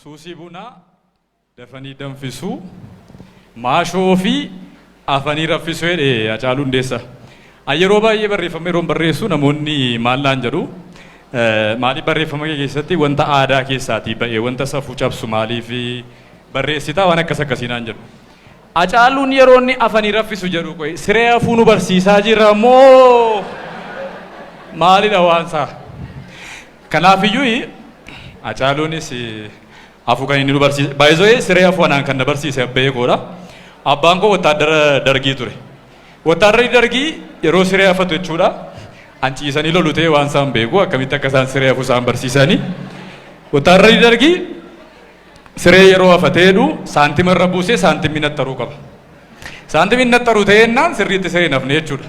Suusii bunaa dafanii danfisuu, maashoo fi Afanii raffisu jedhe Hacaaluu Hundeessa. An yeroo baay'ee barreeffama yeroon barreessu namoonni maal naan jedhu maaliif barreeffama kee keessatti wanta aadaa keessaatii ba'e wanta safuu cabsu maaliif barreessita waan akkas akkasii naan jedhu. Hacaaluun yeroo inni afanii raffisu jedhu qoy siree hafuu nu barsiisaa jira moo maalidha waansaa? Kanaafiyyuu Hacaaluunis hafu kan inni nu barsiise. By the way siree hafu anaan kan na barsiise abba'ee koodha. Abbaan koo wottaaddara dargii ture. Wottaadarri dargii yeroo siree hafatu jechuudha. An ciisanii lolu ta'ee waan isaan beeku akkamitti akka isaan siree hafu isaan barsiisanii. Wottaadarri dargii siree yeroo hafatee jedhu saantima irra buusee saantimni nattaruu qaba. Saantimni nattaruu ta'ee jennaan sirriitti siree hin hafne jechuudha.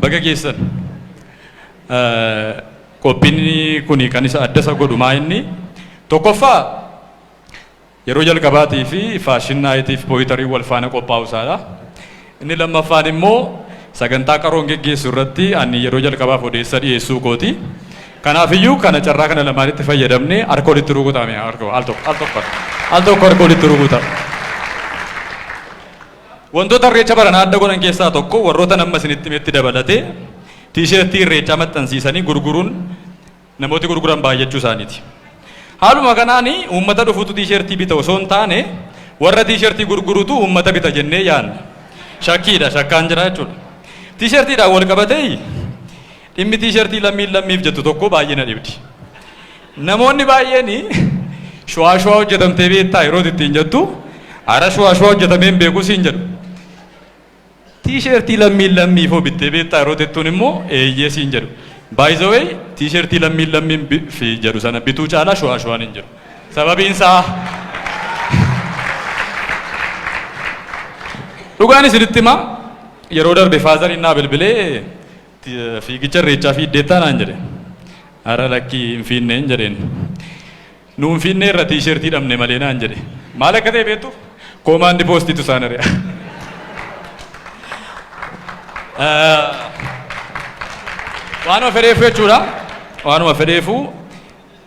Baga geessan. Qophiin kun kan isa adda isa godhu maa inni tokkoffaa yeroo jalqabaatii fi faashin naayitiif pooyitarii wal faana qophaa'u isaadha. Inni lammaffaan immoo sagantaa qaroon geggeessu irratti ani yeroo jalqabaaf odeessa dhiyeessuu kooti. Kanaaf iyyuu kana carraa kana lamaanitti fayyadamne harka walitti rukutame al tokko al tokko al tokko harka walitti rukuta. Wantoota irreecha baranaa adda godhan keessaa tokko warrootan amma isinitti himetti dabalatee tiisheertii irreechaa maxxansiisanii gurguruun namooti gurguran baay'achuu isaaniiti. Haaluma kanaan uummata dhufutu tiisheertii bita osoo hin taane warra tiisheertii gurgurutu uummata bita jennee yaadna. Shakkiidha shakkaan jira jechuudha. Tiisheertiidhaan wal qabatee Dhimmi tiishartii lammiin lammiif jettu tokko baay'ee na dhibdi. Namoonni baay'een shuwaa shuwaa hojjetamtee beektaa yeroo ittiin jettu ara shuwaa shuwaa hojjetamee hin beeku siin jedhu. Tiishartii lammiin lammiif hoo bittee beektaa yeroo jettuun immoo eeyyee siin jedhu. By the way tiishartii lammiin lammiin fi jedhu sana bituu caalaa shuwaa shuwaan hin jiru. Sababiin isaa Dhugaan isinitti himaa yeroo darbe faazariin naa bilbilee Fiigicha irreechaa fiiddeettaa naan jedhe. Ara lakkii hin fiinneen jedheen. Nu hin fiinnee irra tiishertii dhabne malee naan jedhe. Maal akka ta'e beektu? Koomaandi poostiitu isaan ari'a. Waanuma fedheefu jechuudha. Waanuma fedheefu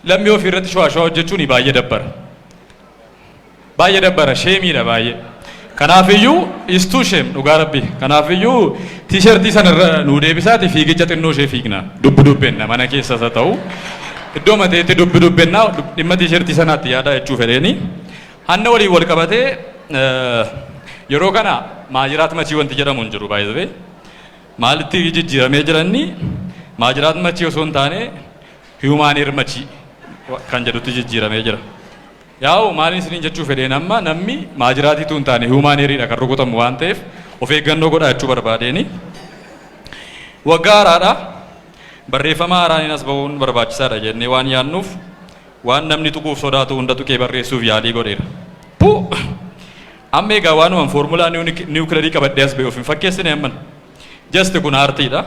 lammii ofii irratti shawaa shawaa hojjechuun baay'ee dabbara. Baay'ee dabbara sheemiidha baay'ee. Kanaafiyyuu is too shame dhugaa rabbii. Kanaafiyyuu tiishartii sana irra nuu deebisaati fiigicha xinnoo ishee fiigna. Dubbi dubbenna mana keessas haa ta'u. Iddoo mateetti dubbi dubbenna dhimma tiishartii sanaatti yaadaa jechuu fedheeni. Hanna waliin wal qabatee eh, yeroo kana maajiraat machii wanti jedhamu hin jiru baay'ee. Maalitti jijjiiramee jiranni maajiraat machii osoo hin taane hiyumaan heer machii kan jedhutti jijjiiramee jira. Yaa'u maaliin isiniin jechuu fedheen amma namni maajiraatii utuu hin taane human error dha kan rukutamu waan ta'eef of eeggannoo godhaa jechuu barbaadeeni. Waggaa haaraadha. Barreeffama haaraaniin as ba'uun barbaachisaadha jennee waan yaadnuuf waan namni tuquuf sodaatu hunda tuqee barreessuuf yaalii godheera. Pu! Amma egaa waanuman foormulaa niwukilarii qabadhee as ba'e of hin fakkeessine amman. Just kun aartiidha.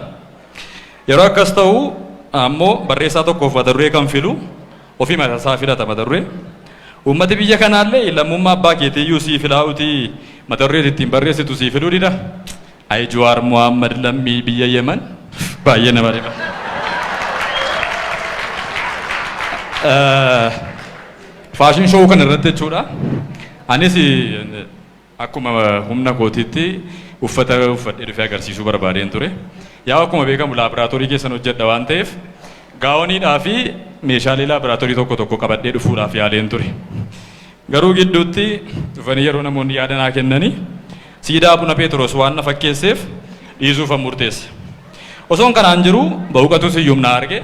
Yeroo akkas ta'u ammoo barreessaa tokkoof mata duree kan filu Ofii mata isaa filata mata duree. Uummati biyya kanaallee lammummaa abbaa keetii iyyuu sii filaa'uutii mata duree ati ittiin barreessitu sii filuu dida. Ayi Juwaar Muhaammad lammii biyya Yemen baay'ee nama dhiba. Faashin showuu kana irratti jechuudha. Anis Akkuma humna kootiitti uffata uffadhee dhufee agarsiisuu barbaadeen ture. Yaa'u akkuma beekamu laabraatoorii keessan hojjedha waan ta'eef gaawoniidhaa fi meeshaalee laabraatoorii tokko tokko qabadhee dhufuudhaaf yaaleen ture. Garuu gidduutti dhufanii yeroo namoonni yaada naa kennanii siidaa Abuna Pheexiroos waan na fakkeesseef dhiisuufan murteesse. Osoon kanaan jiruu Bawuqatuu Siyyum na arge.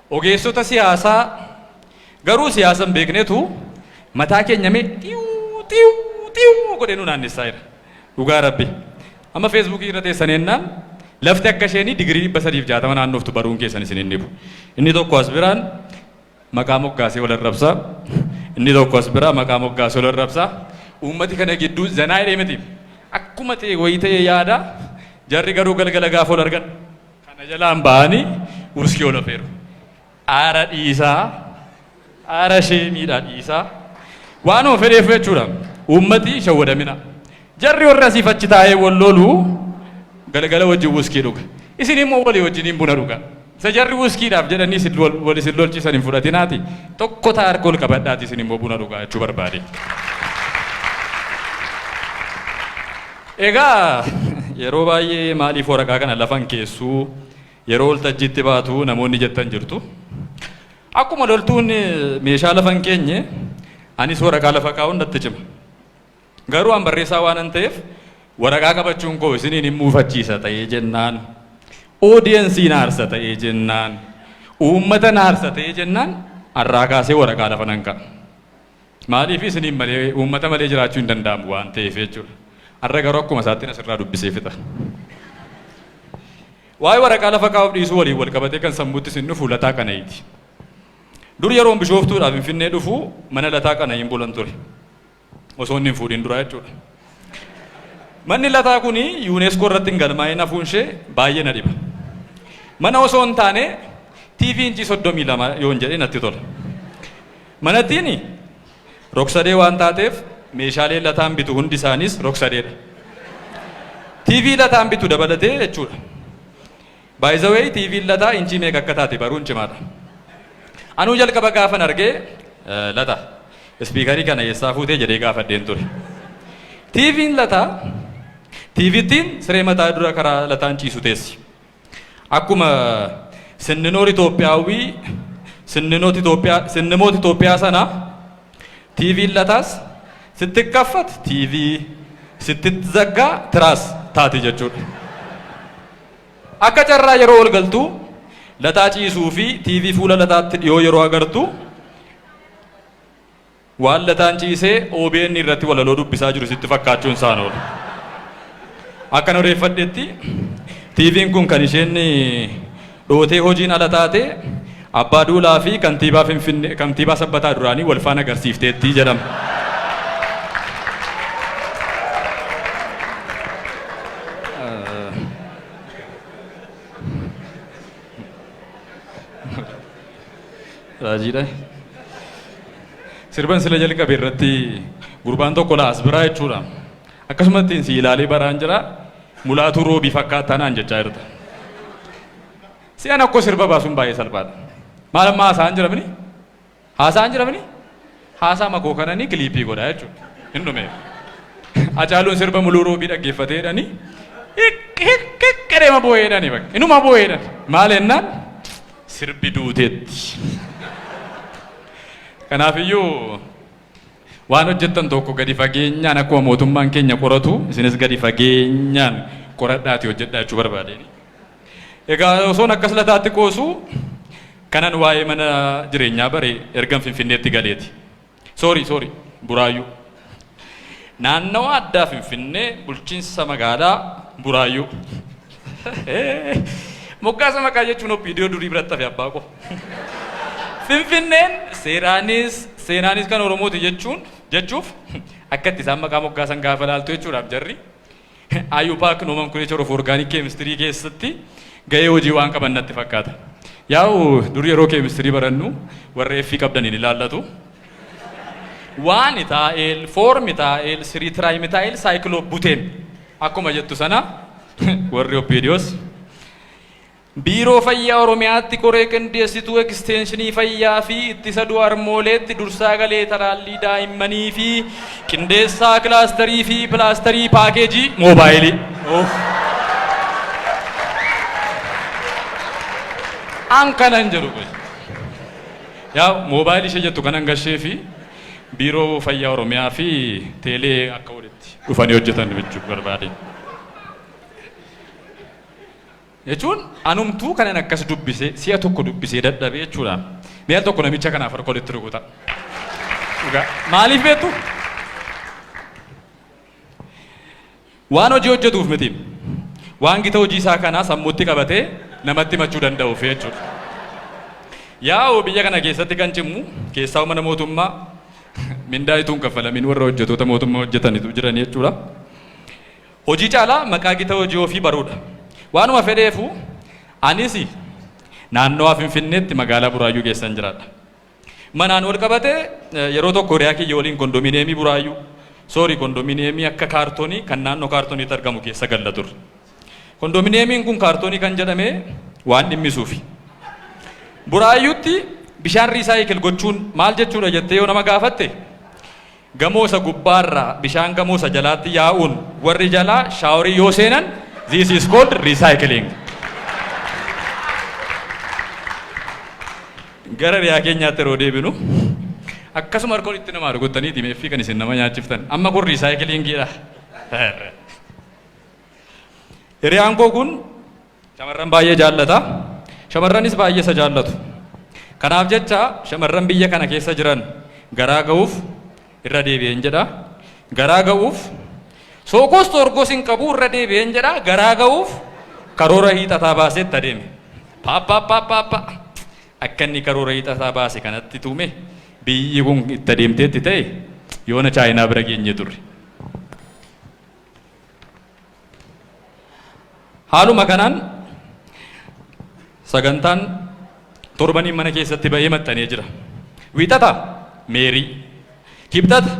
Ogeessota siyaasaa garuu siyaasa hin beeknetu mataa keenya mee xiiwuu xiiwuu xiiwuu godhee nu naannessaa jira. Dhugaa Rabbii. Amma feesbuukii irra teessan ennaan lafti akka isheen digirii dhibba sadiif jaatama naannoftu baruun keessan isin hin dhibu. Inni tokko as biraan maqaa moggaasee wal arrabsa. Inni tokko as biraa maqaa moggaasee wal arrabsa. Uummati kana gidduu zanaa jedhee miti. Akkuma ta'e wayii ta'ee yaada jarri garuu galgala gaafa wal argan Kana jalaan ba'anii wuskii ol afeeru. Aara dhiisaa, aara sheemiidhaa dhiisaa. Waanuma fedheef jechuudha. Uummati hin shawwadamina. Jarri warri asiif achi taa'ee wal lolu galgala wajjin wuskii dhuga. Isin immoo walii wajjiniin buna dhugaa. Isa jarri wuskiidhaaf jedhanii isin wal wal isin lolchisan hin fudhatinaati. Tokko ta'a harka ol qabadhaati isin immoo buna dhugaa jechuu barbaade. Egaa yeroo baay'ee maaliif waraqaa kana lafa hin keessu, yeroo waltajjiitti baatu namoonni jettan jirtu. Akkuma loltuun meeshaa lafa hin keenye anis waraqaa lafa kaa'uun natti cima. Garuu an barreessaa waanan ta'eef waraqaa qabachuun koo isiniin hin muufachiisa ta'ee jennaan, oodiyensii na aarsa ta'ee jennaan, uummata na aarsa ta'ee jennaan har'aa kaasee waraqaa lafa nan kaa'a. Maaliif isiniin malee uummata malee jiraachuu hin danda'amu waan ta'eef jechuudha. Har'a garuu akkuma isaattiin asirraa dubbisee fixa. Waa'ee waraqaa lafa kaa'uuf dhiisuu waliin wal qabatee kan sammuutti isin dhufu Lataa Qana'iiti. Dur yeroon bishooftuudhaa Finfinnee dhufu mana Lataa Qana'iin bulan ture. Osoo inni hin fuudhin duraa jechuudha. Manni lataa kun yuuneeskoo irratti hin galmaa'in hafuun ishee baay'ee na dhiba. Mana osoo hin taane TV inchii soddomii lama yoon jedhe natti tola. Manattiin rogsadee waan taateef meeshaaleen Lataan bitu hundi isaaniis rogsadeedha. TV Lataan bitu dabalatee jechuudha. By the way TVn Lataa inchii meeqa akka taate baruun cimaadha. Anuu jalqaba gaafan argee eh, Lata ispiikarii kana eessaa fuutee jedhee gaafadheen ture. TVn Lataa TVttiin siree mataa dura karaa Lataan ciisu teessi. Akkuma sinninoor Itoophiyaawwii sinninoot Itoophiyaa sinnimoot Itoophiyaa sana TVn lataas sitti kaffat TV sitti zaggaa tiraas taati jechuudha. Akka carraa yeroo ol galtu lataa ciisuu fi TV fuula lataatti dhiyoo yeroo agartu Waan lataan ciisee obn irratti walaloo dubbisaa jiru sitti fakkaachuun isaan oolu. Akkan odeeffadhetti TVn kun kan isheen dhootee hojiin ala taate Abbaa Duulaa fi kantiibaa Finfinnee kantiibaa Sabbataa duraanii wal faana agarsiifteetti jedhama. Raajiidha. Sirban sila jalqabe irratti gurbaan tokko na as biraa jechuudha. Akkasumatti si ilaalee baraan jira mulaatuu roobii fakkaataa naan jechaa jirta. Si'an akkoo sirba baasuun baay'ee salphaadha. Maal amma haasa'an jiramini? Haasa'an jiramini? Haasa'ama koo kanani kiliippii godha jechuudha. Hin dhumeef. Acaaluun sirba Muluu Roobii dhaggeeffatee jedhani hiq hiq hiq jedheema boo'ee jedhani bakka. Inuma boo'ee jedhan. Maal jennaan sirbi duuteetti. Kanaafiyyuu waan hojjettan tokko gadi fageenyaan akkuma mootummaan keenya qoratu isinis gadi fageenyaan qoradhaati hojjedhaa jechuu barbaadeen. Egaa osoon akkas lataatti qoosu kanan waa'ee mana jireenyaa bare ergan Finfinneetti galeeti. Soorii soorii Buraayyuu. Naannawa addaa Finfinnee bulchiinsa magaalaa Buraayyuu. Moggaasa maqaa jechuun oppiidiyoo durii biratti hafe abbaa koo. Finfinneen seeraanis seenaanis kan Oromooti jechuun jechuuf akkatti isaan maqaa moggaasan gaafa laaltu jechuudhaaf jarri. IUPAC nomenclature of organic chemistry keessatti gahee hojii waan qaban natti fakkaata. Yaa'u dur yeroo keemistirii barannu warra F qabdan hin ilaallatu. Waani taa'eel, foormi taa'eel, sirii tiraayimitaayil saayikiloo buteen akkuma jettu sana warri oppiidiyoos Biiroo Fayyaa Oromiyaatti Koree Qindeessituu Ekisteenshinii Fayyaa fi Ittisa Du'a Harmooleetti Dursaa Galee Talaallii Daa'immanii fi Qindeessaa Kilaastarii fi Pilaastarii Paakeejii Moobaayilii. An kanan jedhu qoy. Yaa moobaayilii ishee jettu kanan gashee fi Biiroo Fayyaa Oromiyaa fi Teelee akka walitti dhufanii hojjetan jechuu barbaade. Jechuun anumtuu kanan akkas dubbisee si'a tokko dubbisee dadhabee jechuudha. Mee al tokko namicha kanaaf harka walitti rukutaa. Dhugaa. Maaliif beektu? Waan hojii hojjetuuf miti. Waan gita hojii isaa kanaa sammuutti qabatee namatti himachuu danda'uuf jechuudha. Yaa'u biyya kana keessatti kan cimu keessaa mana mootummaa mindaa utuu hin kaffalamin warra hojjetoota mootummaa hojjetanitu jiran jechuudha. Hojii caalaa maqaa gita hojii ofii baruudha. Waanuma fedheefuu anis naannawaa Finfinneetti magaalaa Buraayyuu keessan jiraadha. Manaan wal qabatee yeroo tokko hiriyaa kiyya waliin kondominiyeemii Buraayyuu, sorry kondominiyeemii akka kaartonii kan naannoo kaartoniitti argamu keessa galla turre. Kondominiyeemiin kun kaartonii kan jedhame waan dhimmisuufi. Buraayyuutti bishaan riisaayikil gochuun maal jechuudha jettee yoo nama gaafatte Gamoo isa gubbaa irraa bishaan gamoo isa jalaatti yaa'uun warri jalaa shaaworii yoo seenan this is called recycling. Gara riyaa keenyaatti yeroo deebinu akkasuma harka walitti namaa rukuttanii dimeeffii kan isin nama nyaachiftan amma kun recycling dha. Hiriyaan koo kun Shamarran baay'ee jaallata. Shamarranis baay'ee isa jaallatu. Kanaaf jecha shamarran biyya kana keessa jiran garaa ga'uuf irra deebi'een jedha. Garaa ga'uuf sookoos toorgoos hin qabu irra deebi'een jedha. Garaa ga'uuf karoora hiixataa baasee itti adeeme. Paappaappaappaappa akka inni karoora hiixataa baase kanatti tuume biyyi kun itti adeemteetti ta'e yoona chaayinaa bira geenye turre. Haaluma kanaan sagantaan torbaniin mana keessatti ba'ee maxxanee jira. Wiixata Meerii, Kibxata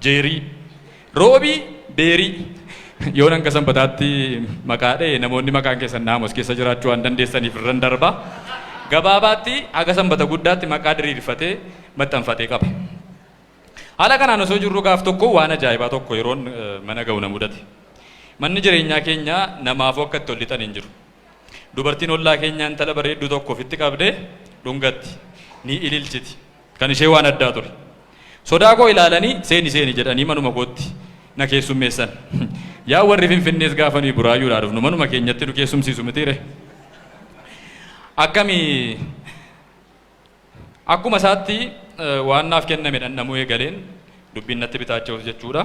Jeerii, Roobii Beerii. Yoon hanga sanbataatti maqaa dha'e namoonni maqaan keessan naamos keessa jiraachuu waan dandeessaniif irran darba. Gabaabaatti haga sanbata guddaatti maqaa diriirfatee maxxanfatee qaba. Haala kanaan osoo jirruu gaaf tokko waan ajaa'ibaa tokko yeroon mana ga'u na mudate. Manni jireenyaa keenya namaafuu akka itti ol lixan hin jiru. Dubartiin ollaa keenyaa intala bareedduu tokko ofitti qabdee dhungatti, ni ililchiti. Kan ishee waan addaa ture. Sodaa koo ilaalanii seeni seeni jedhanii manuma kootti na keessummeessan. Yaa warri Finfinnees gaafa nuyi Buraayyuudhaa dhufnu manuma keenyatti nu keessumsiisu mitiiree? Akkami Akkuma isaatti waan naaf kenname dhandhamuu eegaleen dubbiin natti bitaacha'us jechuudha.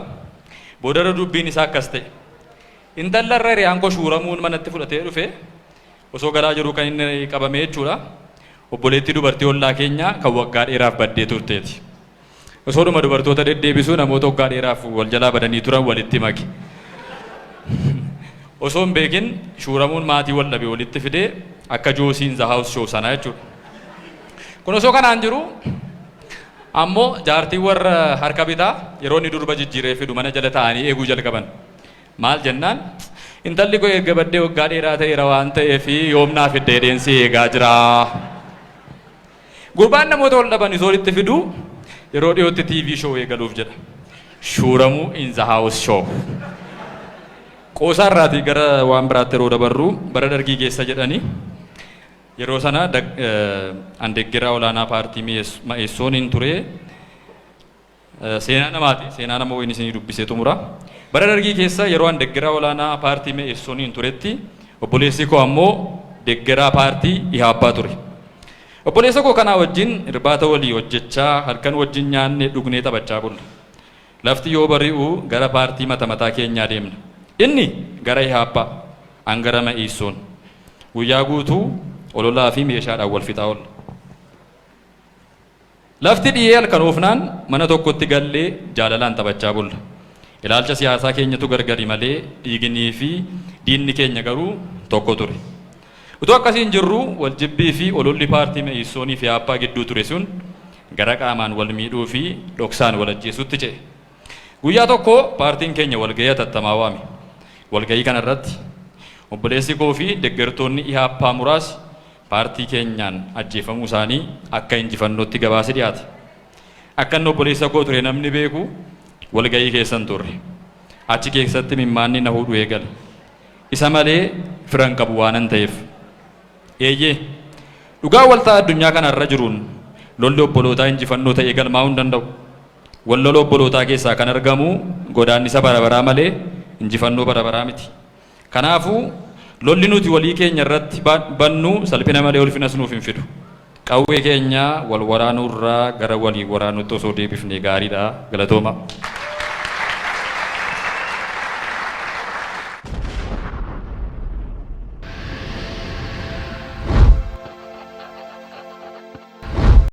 Boodarra dubbiin isaa akkas ta'e. Intalla irra hiriyaan koo shuuramuun manatti fudhatee dhufe osoo galaa jiruu kan inni qabame jechuudha. Obboleettii dubartii ollaa keenyaa kan waggaa dheeraaf baddee turteeti. Osoodhuma dubartoota deddeebisuu namoota waggaa dheeraaf wal jalaa badanii turan walitti make. Osoo hin beekin shuuramuun maatii wal dhabe walitti fide akka Joosii in the house show sanaa jechuudha. Kun osoo kanaan jiru ammoo jaartiin warra harka bitaa yeroo inni durba jijjiiree fidu mana jala taa'anii eeguu jalqaban. Maal jennaan intalli koo erga baddee waggaa dheeraa ta'eera waan ta'eef yoom naa fidda jedheen si eegaa jira. Gurbaan namoota wal dhaban isa walitti fidu yeroo dhiyootti TV show eegaluuf jedha. Shuuramuu in the house show. Qoosaa irraatii gara waan biraatti yeroo dabarru bara dargii keessa jedhani yeroo sana dag- eh, an deggeraa olaanaa paartii mi'eess- ma'eessoon hin ture Seenaa namaati. Seenaa nama wayiin isinii dubbisee xumura. Bara Dargii keessa yeroo an deggeraa olaanaa paartii Me'iissoniin turetti obboleessi koo ammoo deggeraa paartii Ihaappaa ture. Obboleessa koo kanaa wajjin irbaata walii hojjechaa, halkan wajjin nyaannee dhugnee taphachaa bulla. Lafti yoo bari'u gara paartii mata mataa keenyaa deemna. Inni gara Ihaappaa, an gara Me'iisson. Guyyaa guutuu ololaa fi meeshaadhaan wal fixaa oolla. Lafti dhiyee halkanoofnaan mana tokkotti gallee jaalalaan taphachaa bulla. Ilaalcha siyaasaa keenyatu gargari malee dhiiginii fi diinni keenya garuu tokko ture. Utuu akkasiin jirruu waljibbii fi ololli paartii Me'iissoonii fi Eaappaa gidduu ture sun gara qaamaan wal miidhuu fi dhoksaan wal ajjeesuutti ce'e. Guyyaa tokko paartiin keenya walga'ii hatattamaa waame. Walga'ii kanarratti obboleessi koo fi deggertoonni Eaappaa muraasi paartii keenyaan ajjeefamuu isaanii akka injifannootti gabaasi dhiyaate. Akka inni obboleessa koo ture namni beeku walga'ii keessan turre. Achi keessatti imimmaanni na hudhu eegale. Isa malee fira hin qabu waanan ta'eef. Eeyyee, dhugaa waltaa addunyaa kana irra jiruun lolli obbolootaa injifannoo ta'ee galmaa'uu hin danda'u. Wal lola obbolootaa keessaa kan argamu godaannisa bara baraa malee injifannoo bara baraa miti. Kanaafuu, lolli nuti walii keenya irratti bannu salphina malee ulfinas nuuf hin fidu. Qawwee keenya wal waraanuu irraa gara walii waraanuutti osoo deebifnee gaariidha. Galatoomaa!